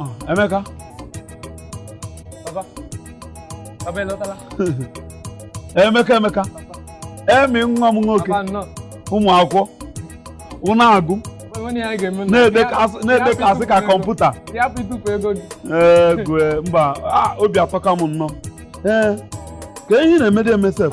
Ah, Emeka Emeka Emeka emi nwa m nwoke ụmụ akwụkwọ unu na-agụ na-edekasị ka kọmputa igwe mba obi atọka m nnọọ ee ka ihe na-emede eme sef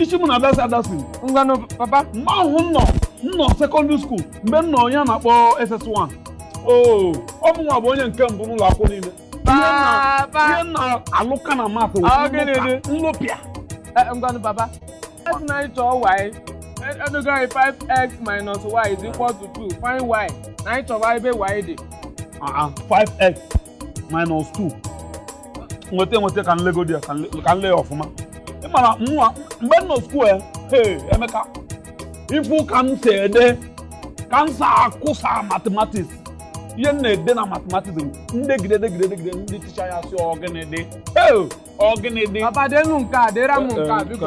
isi m na-adasi adasi ngwanụ papa mgbe ahụ m nọ m nọ sekọndịrị skuul mgbe m nọ ihe a na-akpọ SS1 oo ọ bụ mụwa bụ onye nke mbụ n'ụlọ akwụkwọ niile Papa. ihe m na-alụka na math Ọ gịnị dị? nlụpịa Eh, ngwanụ papa a sị na anyị chọọ y edogo anyị 5x minus y is equal to 2 find y na anyị chọwa ebe y dị 5x minus 2 nweta enweta ka m legodi ya ka m lee ya ọfụma ị mara mụwa mgbe m nọ skuul ya ee emeka ị fụ ka m si ede ka m si akụsa matematiks ihe m na-ede na matematiks m degide degide degide ndị ticha ya sị ọ gịnị dị ọ gịnị dị papa denu nke a dera m nke a eh, eh, biko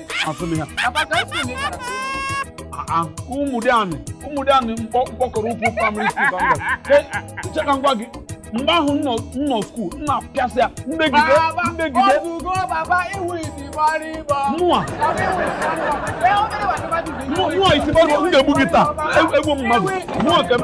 asụ m ya Ụmụdịanị Ụmụdịanị mkpọkọrọ ukwu praịmarị skuul ka m gara che ka m gwa gị mgbe ahụ m nọ skuul m na-apịasị ya m megide m megide mụa mụa isi gbaruo m ga-egbu gị taa egbu mmadụ mụa ka m